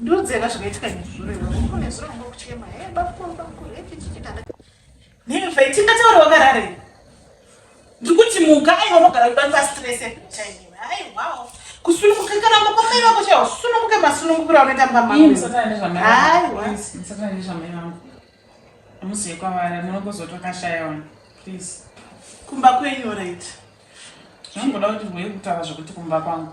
ndodzera zvakaitika nezvurekuchema tingataura wakarare ndikuti muka aiwa unogara kuda pastress chaimima aiwawo kusununguka kana makwamai vako chaiwo usununguke masunungukira unoita mbamaaaiwamusiyekwavaranokozotokashayaona please kumba kwenyu right zvangoda kuti rwei kutaura zvekuti kumba kwangu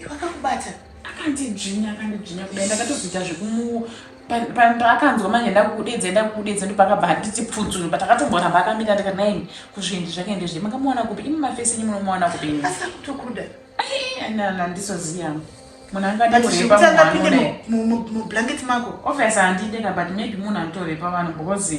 Iwe akakubata akandidzvinya akandidzvinya kudai ndakatozoita zvekumu paakanzwa manje ndakukudedza ndakukudedza ndopakabva handiti pfudzunu but akatomboramba akamira ndikati naini kuzvindi zvake ndezve makamuwana kupi imi mafesi enyu munomuwana kupi asakutokuda andisoziva munhu angadimublanket mako obvious handideka but maybe munhu anotorepa vanhu because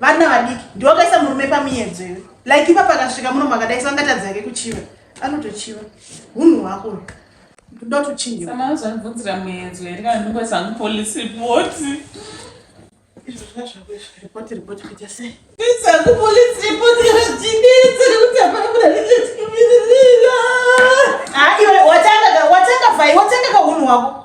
vana vadiki ndiwo kaisa murume pamiyedzo iwe like ipa pakasvika muno makadaisa angatadzi yake kuchiva anotochiva hunhu hwako ndoda kuchinja samana zvanibvunzira muyedzo here kana ndingoisa hangu police report watanga kahunhu hwako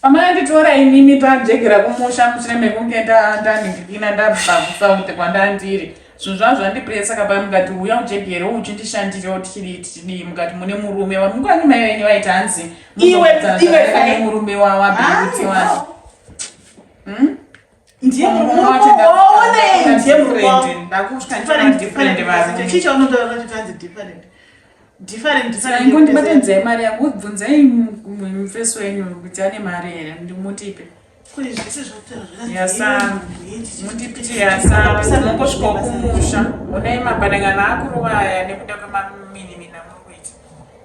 Pamanditora imimi tanjegera kumusha mushure mekunge ndaningikina ndabva kusaute kwandandiri zvinhu zvavo zvandipresa saka pai mukati uya ujegere uchindishandirewo tichidii tichidii mukati mune murume wa mukwanyi mai venyu vaiti hanzi murume wawabiutiwa hmm? ndiye murume ndiye murume ndakutya ndichona different vanhu chii chaunotaura chikanzi different ndibate nzai mari yangu bvunzai mufesi wenyu kuti ane mari here ndimutipe mutipitiyasaaunongosvika kumusha unai mapanangano akuruvaya nekuda kwemaminimina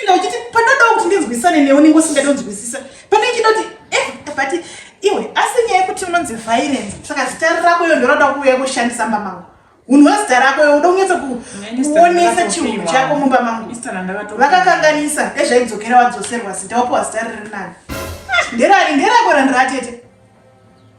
inda uchiti pandoda kuti ndinzwisane newe unenge usingadi kunzwisisa pane ichida kuti eh, but iwe asi nyaya yekuti unonzi violence saka zita rako iyo ndoroda kuuya kushandisa mumba mangu unhu wezita rako iyo uda kunyatsa kuonesa chihunhu chako mumba mangu vakakanganisa ezvaidzokera wadzoserwa zita wapiwa zita riri nani ah, nderani nderako randiratete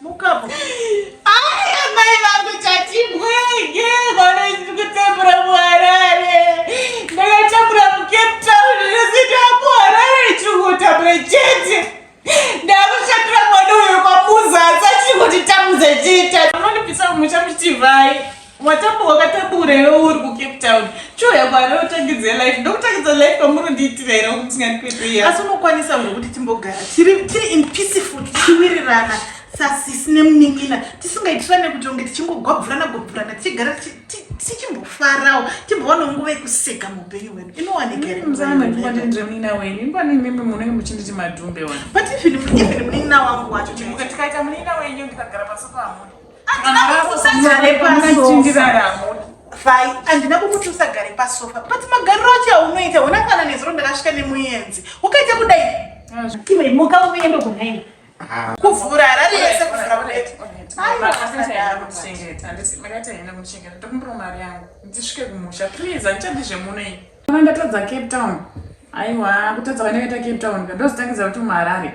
Mukapo. Ai amai vangu chatimwe ye gore ndiri kutambura muharare. Ndakatambura muCape Town ndosita ku Harare ndiri kutambura chete. Ndakushatira mwana uyo kwamuza asati kuti tamudze chita. Unondipisa mucha muchivai. Watambo wakatabura iwe uri kucape town choya kwari otangidze life ndokutangidza life kwamuri ndiitira here kuti tingandikweteya asi unokwanisa uri kuti timbogara tiri in peaceful tichiwirirana sasisi nemunin'ina tisingaitirane kuti onge tichingogwabvurana gwabvurana tichigara tichimbofarawo timbowana nguva yekuseka muupenyu hwedu inowanikaiaaaemunin'ina wangu wacho tikaita munin'ina wenyu ndikagara pasopaamuna fai handina kukuti usagare pasofa but magariro acho aunoita hona kana nezuro ndakasvika nemuyenzi ukaita kudai imuka uende kunaini kuvhura harari yese kuvhura kudeti ndisvike kumusha please handichadi zvemuno iyi kana ndatadza cape town aiwa kutadza kana kaita cape town ka ndozitangidza kuti muharare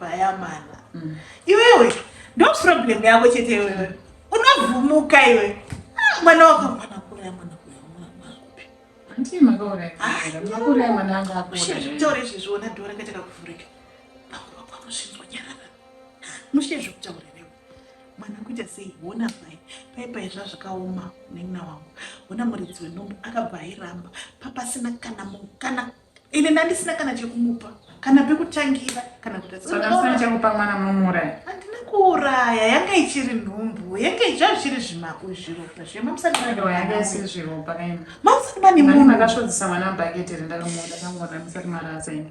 vayamana mm. iwewe ndo problem yako chete iwewe unovhumuka iwe ah, mwana wakamwana kuraya mwana kuyamwanakuzvitaura ah, izvezviona dora kaita kakuvhurika pakurwa kwamusvinzwa nyarara mushe zvekutaura newe mwana kuita sei hona mai paipai zva zvakaoma nenina wangu hona muridzi wenhombo akabva airamba papasina kana mukana ini ndandisina kana chekumupa kana pekutangira kana kutaachakupa mwana munomuuraya handina kuuraya yanga ichiri nhumbu yanga izva zviri zvimako zviropa zvemamusatimayanga isiri zviropa kaini mamusati mane munhu makasvodzisa mwana mubhaketi rindakamona kangoona musati marasa ini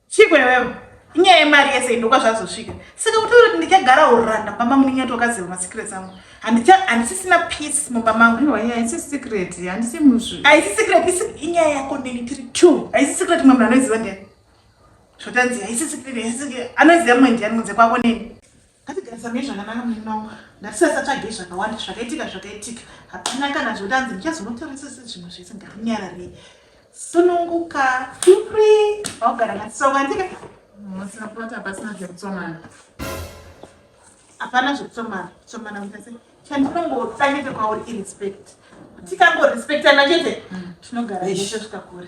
Chiko iwewe, inyaya yemari yese indokwa zvazosvika. Saka kutaura kuti ndichagara uranda mumba mangu ndinyati wakaziva masecrets angu. Handisisina peace mumba mangu. No, yeah, it's a secret. Handisi musvi. Haisi secret, isi inyaya yako neni tiri two. Haisi secret mumwe munhu anoiziva ndiani. Zvotanzi haisi secret, haisi secret. Anoiziva mumwe ndiani kunze kwako neni. Ngatigarisane nezvakanaka munin'ina wangu. Ngatisasatsvage zvakawanda zvakaitika zvakaitika. Hapana kana zvekuti hanzi ndichazonotarisisa zvimwe zvese ngatinyararei. Sununguka. Feel free. Vaugara ngatitsonga ndika. Musina plot hapasina zvekutsomana. Hapana zvekutsomana. Tsomana kuita sei? Chandinongotsangete kwauri irespect. Tikangorespectana chete tinogara zveshe zvikakure.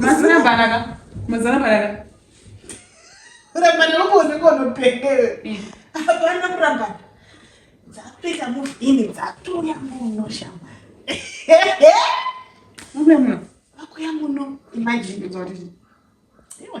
Mazana banaka. Mazana banaka. Rabana uko ndiko nopengere. Abana kuramba. Dzapita mu ini dzatuya muno shamba. Muno muno. Akuya muno. Imagine kuti. Iwe.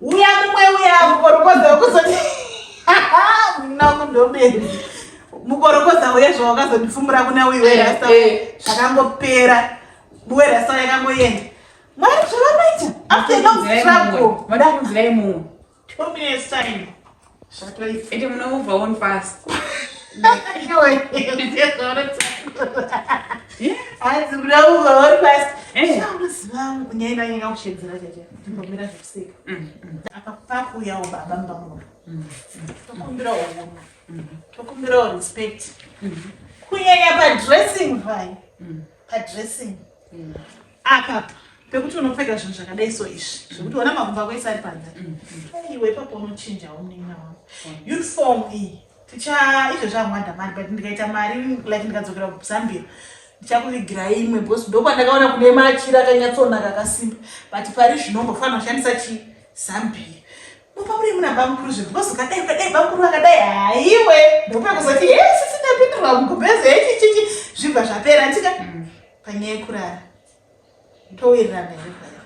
Uya kumwe uya mukorokoza ukuzoti munangu ndomene mukorokoza uya zvawakazondifumura kuna uyu werasta eh, eh. zvakangopera werasta yakangoenda mwari zvavanoita after long struggle vada kunzira imumwe two minutes time apakuuyawo baba mumba muno tokumbirawo uno tokumbirawo respect kunyanya padressing vai padressing apa pekuti unopfeka zvinhu zvakadai so izvi zvekuti ona makumba ako ese ari panze mm, mm. iwe ipapo unochinjawo munin'ina wako uniform iyi ticha izvo zvamwada mari but ndikaita mari like ndikadzokera kuzambia ndichakuvigira imwe bcause ndokwandakaona kune machira akanyatsonaka akasimba but pari zvino mbofanira kushandisa chi zambia mupamuri muna bamukuru zve bcause ukadai ukadai bamukuru vakadai haiwe ndopekuzoti hesisitapindurwa mukubhezi hechichichi zvibva zvapera tika mm. panyaya yekurara towirirana here paya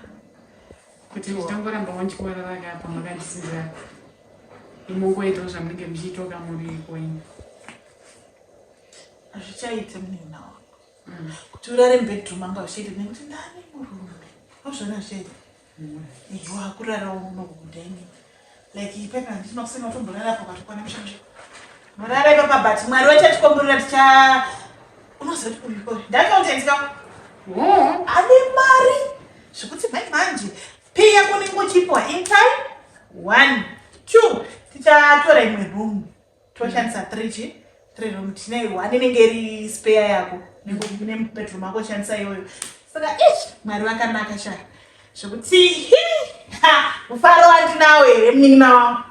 kuti ndichitongoramba wandichiwarara kapa makandisiira imongoitawo zvamunenge muchiitoka muri kwenyu hazvichaite munina wangu mm. kuti urare mubedroom angu hazvichaite nekuti ndani murume ozvona zvichaite Iyo akurara uno kudeni. Like ipepa ndisina kusema utomborara apo patukwana mshanje. Morara ipepa but mwari wacha tikomborera ticha unoziva kuti uyu kore. Ndakautenga. Mm. Ane mari. Zvekuti mai manje. Piya kuningo chipo in time. One. Two. Tichatora imwe room. toshandisa three chi three room tine one inenge iri spare yako nebedroom ako shandisa iyoyo saka ish mwari vakanaka sha zvekuti mufaro wandinawo here munin'ina wangu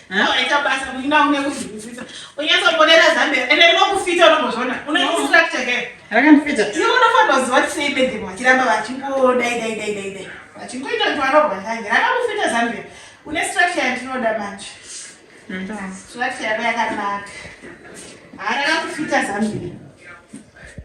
Waita basa kuinga une kuzwisisa. Unyaso ponera zambia. Ende rino kufita unobozvona. Une distract again. Raka ndifita. Iwe unofanira kuziva kuti sei bende vachiramba vachingo dai dai dai dai dai. Vachingoita kuti vanobva ndanje. Raka kufita zambia. Une structure yatinoda manje. Structure yako yakanaka. Haraka kufita zambia.